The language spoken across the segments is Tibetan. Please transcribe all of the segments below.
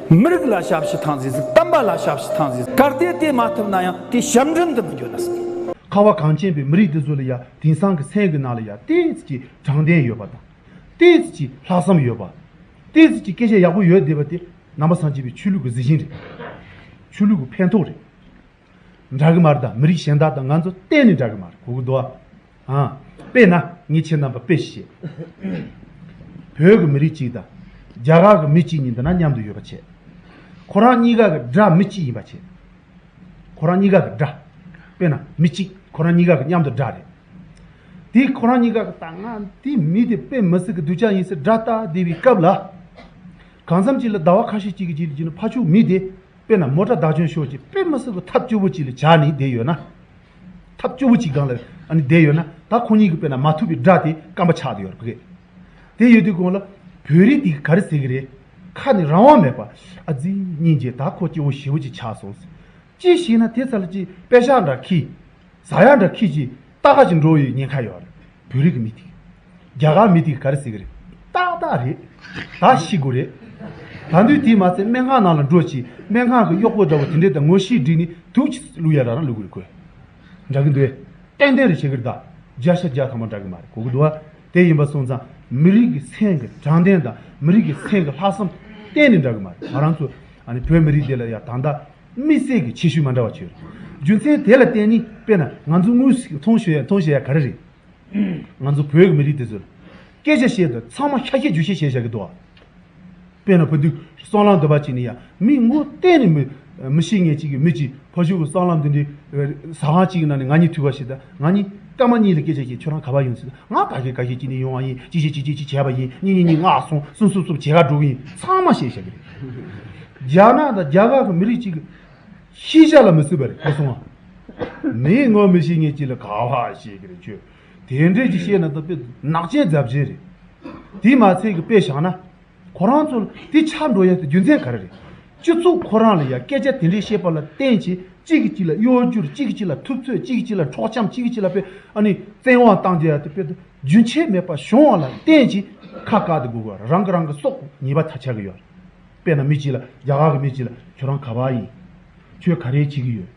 མི་རིགས་ལ་ཞབས་ཕྱི་ཐང་ཟིག་ཟིག་གཏམ་པ་ལ་ཞབས་ཕྱི་ཐང་ཟིག་ཟིག་གར་སྟེ་དེ་མ་ཐུབ་ན་ཡང་དེ་ཞབས་འདྲེན་དུ་མི་འགྱུར་ན་ཟིག། ཁ་བ་གངས་ཅན་པའི་མི་རིགས་འདི་ཚོ་ལ་ཡང་དེང་སང་གི་མཚན་གྱི་ནང་ལ་ཡང་དེའི་ཚིག་གི་དྲང་བདེན་ཡོད་པ་དང། དེའི་ཚིག་གི་ལྷག་བསམ་ཡོད་པ། དེའི་ཚིག་གི་སྐད་ཆ་ཡག་པོ་ཡོད་བསྡད་པ་དེ་ནམ་པ་སངས་རྒྱས་པའི་ཆོས་ལུགས་ཀྱི་གཟི་བྱིན་རེད། ཆོས་ལུགས་ཀྱི་ཕན་ཐོགས་རེད། འདྲ་གི་མ་རེད་ད་མི་རིགས་གཞན་དག་དང་ང་ཚོ་གཏན་ནས་འདྲ་གི་མ་རེད་གོ་གི་འདུག་ཨ། དཔེ་ན་ངས་ཁྱེད་རྣམ་པ་དཔེ་ཞིག་བཤད། བོད་ཀྱི་མི་རིགས་གཅིག་དང་རྒྱ་གར་གྱི་མི་གཅིག་གཉིས་འདི་ན་མཉམ་དུ་ཡོད་པ་ཆད། ཁོ་རང་གཉིས་ཀ་གི་སྒྲ་མི་གཅིག་ཡིན་པ་ཆད། ཁོ་རང་གཉིས་ཀ་གི་སྒྲ། དཔེ་ན་མི་གཅིག་ཁོ་རང་གཉིས་ཀ་གི་མཉམ་དུ་སྒྲ་རེད། དེ་ཁོ་རང་གཉིས་ཀ་གི་ད་ང་དེ་མི་དེ་དཔེ་མི་སྲིད་གི་འདུག་ཅག་ཡིན་སྲིད་སྒྲ་ལྟ་བསྡད་པའི་སྐབས་ལ། གང་འཚམ་གཅིག་ལ་ཟླ་བ་ཁ་ཤས་གཅིག་གི་རྗེས་ལ་འཇུས་ན་ཕ་ཕྱུགས་མི་དེ། དཔེར་ན་མོ་ཏྲ་བདག་བྱོན་ཤོག་ཅིག་དཔེ་མི་སྲིད་དོ་ཐབས་སྐྱོ་བོ་ཅིག་ལ་བྱ་ནི་བསྡད་ཡོད་ན། ཐབས་སྐྱོ་བོ་ཅིག་སྒང་ལ་བསྡད་ཡོད་ན་ད་ཁོང་གཉིས་ཀྱི་དཔེ་ན་མ་ཐུབ་པའི་སྒྲ་དེ་སྐམ་པ་ཆགས་ཡོད་རེད། དེ་ཡོད་དུས་གོང་ལ་བོད་རིགས་དེ་ག་རེ་ཟེར་གི་རེད། ཁ་ནས་རང་དབང་མེད་པ། ཨ་ཙི། སྙིང་རྗེ་ད་ཁོ་སྐྱོ་བོ་ཞེ་བོ་ཅིག་ཆགས་སོང། ཅི་ཞིག་ན་དེ་ཚར་ལ་ཅིག་དཔེ་ཞག་འདྲ་ཁྱི། བཟའ་ཡག་འདྲ་ཁྱེད་ཀྱིས་ཏག་ཏག་ཅིག་འགྲོ་ཡི་ཉེན་ཁ་ཡོད་རེད་བོད་རིགས་མི་དེ་རྒྱ་གར་མི་དེ་ག་རེ་ཟེར་གི་རེད་ཏག་ཏག་རེད་ད་ཤི་དགོས་རེད་ད་དུས་དེ་མ་ཚད་སྨན་ཁང་ནང་ལ་འགྲོ་ཅིག་སྨན་ཁང་གི་གཡོག་པོ་འདྲ་བོ་དེ་འདྲས་ད་ངོ་ཤེས་བསྒྲིགས་ནས་དུག་ཅིག་བླུག་ཡ་ར་རང་ལུས་གུ་རེ་གོས་འདྲ་གི་འདུག་ཨེ་ཏན་ཏན་རེ་བྱེད་གི་རེད་ད་རྒྱ་ཤ་རྒྱ་ཐང་པོ་འདྲ་གི་མ་རེད་གོ་གི་འདུག་ཨ་དེ་ཡིན་པ་སོང་ཙང་མི་རིགས་ཀྱི་མཚན་གི་དྲང་བདེན་དང་མི་རིགས་ཀྱི་མཚན་གི་ལྷག་བསམ་གཏན་ནས་འདྲ་གི་མ་རེད་ང་རང་ཚོ་ཨ་ནི་བོད་མི་རིགས་འདི་ལ་ཡ་ད་ད། མི་བསད་ཀྱི་ཆེ་ཤོས་མ་འདྲ་བ་ཁྱོད། རྒྱུ་མཚན་དེ་ལ་བརྟེན་ནི་དཔེར་ན་ང་ཚོ་དངུལ་ཞིག་མཐོང་ཞོལ་མཐོང་ཞེས་ཡ་ག་རེ་རེད། ང་ཚོ་བོད་ཀྱི་མི་རིགས་དེ་ཚོས། སྐད་ཆ་བཤད་དུས་ཚང་མ་ཁྱ་ཁྱི་རྒྱུ་ཤེས་ཤེས་བྱ་གི་འདུག། དཔེར་ན་ཕ་དུས་སྲང་ལམ་དུ་བ་ཅིག་ནས་ཡང་མི་མགོ་གཏན་ནས་མི། མི་ཤེས་ངེས་ཅིག་གི་མི་གཅིག་ཕ་ཤུལ་གྱི་སྲང་ལམ་དེ་འདྲའི། ཟ་ཁང་གཅིག་གི་ནང་ནས་ང་གཉིས་ཐུག་པ་ཞིག་དང་ང་གཉིས་སྐར་མ་གཉིས་ལ་སྐད་ཆ་བཤད་ཁྱོད་རང་ག་བ་ཡོང་སྲིད། ང་ག་ཞིག་ག་ཞིག་ཅི་ནས་ཡོང་བ་ཡིན་ཅི་ཞིག་ཅི་ཅི་ཅི་བྱས་པ་ཡིན་གཉིས་གཉིས་གཉིས་ངག་སོང་གསུམ་གསུམ་གསུམ་བྱེད་ག་དྲུག་ཡིན་ཚང་མ་ཤེས་ཤག་གི་རེད། རྒྱ་ནག་དང་རྒྱ་གར་སོགས་མི་རིགས་གཅིག་གི། ཤེས་བྱ་ལ་མི་བསུ་བ་རེད་ཁོ་སོང་ང། མིའི་ངོ་མི་ཤེས་ངེས་ཅི་ལ་ག་བ་ཤེས་གི་རེད་ཁྱོད། དེ་འདྲས་ཅིག་བཤད་ན་དཔེ་ནག་ཅན་རྫབ་ཅན་རེད། དེས་མ་ཚད་ཀྱི་དཔེ་བཞག་ན། ཁོ་རང་ཚོ་ལ་དེ་ཆགས་འགྲོ་ཡག་དེ་རྒྱུ་མཚན་ག་རེ་རེད། སྤྱི་ཚོགས་ཁོ་རང་ལ་ཡང་སྐད་ཆ་དེ་འདྲས་བཤད་པ་ལ་བརྟེན་བྱས་གཅིག་གིས་གཅིག་ལ་གཡོ་སྒྱུར་གཅིག་གིས་གཅིག་ལ་ཐུབ་ཚོད་གཅིག་གིས་གཅིག་ལ་འཕྲོག་བྱམས་གཅིག་གིས་གཅིག་ལ་དཔེ་ཨ་ནི་བཙན་དབང་བཏང་རྒྱ་ཡག་དེ་དཔེ་དེ་རྒྱུན་ཆད་མེད་པར་བྱུང་བ་ལ་བརྟེན་བྱས་ཁ་བཀག་དེ་དགོས་པ་རང་གི་རང་གི་སྲོག་ཉེས་པ་ད་ཆགས་ཀྱི་ཡོད་རེད། དཔེ་ན་མི་གཅིག་ལ་རྒྱ་གར་གྱི་མི་གཅིག་ལ་ཁྱོད་རང་ག་བ་ཡིན། ཁྱོད་ག་རེ་བྱེད་ཀྱི་ཡོད།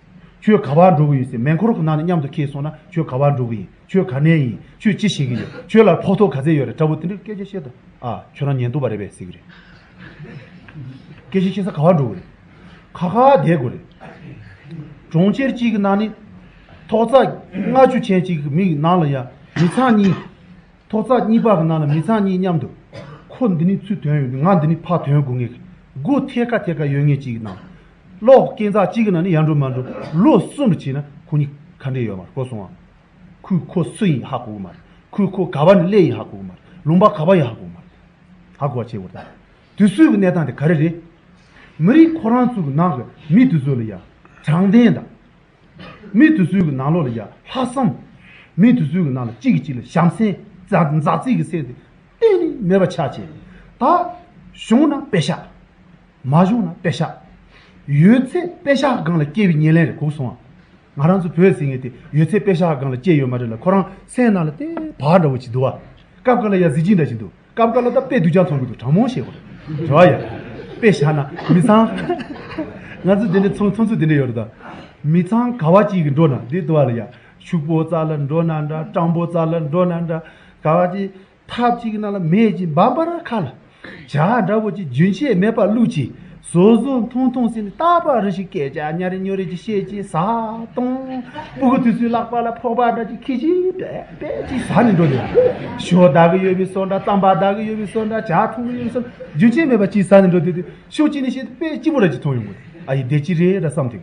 ཁྱོད་ག་བར་འགྲོ་གི་ཡོད་ཟེར་མེ་འཁོར་གྱི་ནང་ནས་མཉམ་དུ་ཁེལ་སོང་ན་ཁྱོད་ག་བར་འགྲོ་གི་ཡིན་ཁྱོད་ག་ནས་ཡིན་ཁྱོད་ཅི་བྱེད་ཀྱི་ཡོད་ཁྱོད་ལ་ཕོག་ཐོག་ག་ཚད་ཡོད་རེད་དྲ་བོ་དེ་འདྲར་སྐད་ཆ་བཤད་དུ་ཨ་ཁྱོད་རང་ཉན་ཐུབ་པ་རེད་པས་ཟེར་གྱི་རེད། སྐད་ཆ་བཤད་ས་ག་བར་འགྲོ་གི་རེད། ཁ་ཁ་བསྡད་དགོས་རེད། གྲོང་ཁྱེར་གཅིག་གི་ནང་ནས་ཐོག་རྩ་ལྔ་བཅུ་ཆན་གཅིག་གི་མིག་ནང་ལ་ཡ་མི་ཚང་གཉིས། ཐོག་རྩ་གཉིས་པ་གི་ནང་ལ་མི་ཚང་གཉིས་མཉམ་དུ། ཁོ་འདི་ནི་ཚུལ་དོན་ཡོད་ཀྱི་ང་འདི་ནི་ཕ་དོན་དགོས་ངེས་ཀྱི་དགུ་ཐད་ཀ་ཐད་ཀ་ཡོད་ངེས་ཅིག་གི་ནང། གློག་སྐས་འཛག་གཅིག་གི་ནང་ནས་ཡར་འགྲོ་མར་འགྲོ་ལོ་གསུམ་རེ་བྱས་ན་ཁོ་གཉིས་ག་འདྲས་ཡོད་མ་རེད་གོ་སོང་ཨ། ཁོས་ཁོ་སུ་ཡིན་ཧ་གོ་གི་མ་རེད་ཁོས་ཁོ་ག་བ་ནས་སླེབས་ཡིན་ཧ་གོ་གི་མ་རེད་ལུང་པ་ག་བ་ཡིན་ཧ་གོ་གི་མ་རེད། ཧ་གོ་བ་བྱེད་དགོས་རེད། དུས་ཚོད་ཀྱི་གནས་སྟངས་དེ་ག་རེ་རེད། མི་རིགས་ཁོ་རང་ཚོའི་ནང་གི་མི་དེ་ཚོ་ལ་ཡང་དྲང་བདེན་དང། མི་དེ་ཚོའི་ནང་ལོགས་ལ་ཡང་ལྷག་བསམ། མི་དེ་ཚོའི་ནང་ལ་གཅིག་གིས་གཅིག་ལ་བྱམས་སེམས་མཛའ་བརྩེ་གི་སེམས་དེ་གཏན་ནས་མེད་པ་ཆགས་ཆེ། ད་བྱུང་ན་དཔེ་ཤ། མ་བྱུང་ན་པད་ཤག། ཡོད་ཚད་པད་ཤག་སྒང་ལ་སྐྱེས་པའི་ཉེར་ལེན་རེད་གུག་སོང་ཨ། ང་རང་ཚོ་བོད་ཟེར་མཁན་དེ་ཡོད་ཚད་པད་ཤག་སྒང་ལ་སྐྱེས་ཡོད་མ་རེད་ལ་ཁོ་རང་སེམས་ནང་ལ་ལྟས་བག་འདྲ་བོ་བྱེད་འདུག་ཨ། སྐབས་འགའ་ལ་ཡང་གཟི་བརྗིད་འདྲ་བྱེད་འདུག་སྐབས་འགའ་ལ་ད་དཔེ་སྡུག་ཅག་ཚོང་གི་འདུག་དྲང་མོ་བཤད་དགོས་རེད། རེ་བ་ཡོད། པད་ཤག་ན་མི་ཚང། ང་ཚོ་དེ་འདྲའི་ཚོང་ཚོང་ཚོད་དེ་འདྲ་ཡོད་རེད་ད། མི་ཚང་ག་བ་གཅིག་གིས་འགྲོ་ན་དེ་ལྟོ་བ་ལ་ཡ། ཕྱུག་པོ་རྩ་ལ་འགྲོ་ན་འདྲ་སྤྲང་པོ་རྩ་ལ་འགྲོ་ན་འདྲ། ག་བ་གཅིག་ཐབས་གཅིག་གི་ནང་ལ་མེད་ཅིང་འབབ་པར་ཁ་ལ་བྱ་འདྲ་བོ་ཅིག་རྒྱུན་ཆད་མེད་པར་བླུད་ཅིང་བཟོ་བཟོ་འཐུང་འཐུང་ཟིན་ནས་རྟག་པར་རེ་ཞིག་སྐད་ཆ་སྙ་རེ་སྙོ་རེ་ཅིག་བཤད་ཅིང་ཟ་བཏུང་སྤུ་གུ་དུས་ཚོད་བརླག་པ་ལ་ཕོག་པ་འདྲ་ཅིག་ཁེ་ཆིང་པད་པད་ཅིག་ཟ་ནས་འགྲོ་འདོད་ཞོ་བདག་གི་ཡོད་པའི་སོ་འདྲ་རྩམ་པ་བདག་གི་ཡོད་པའི་སོ་འདྲ་བྱ་འཐུང་གི་ཡོད་པའི་སོ་འདྲ་རྒྱུན་ཆད་མེད་པར་ཅིག་ཟ་ནས་འགྲོ་འདོད་དུས་ཤོ་གཅིག་ནས་བཤད་དུ་དཔེ་སྤྱི་བོ་ར་ཅིག་འཐུང་ཡོང་དགོས་ཨ་ཡེ་བདེ་སྐྱིད་རེད་འདྲ་བསམ་དུས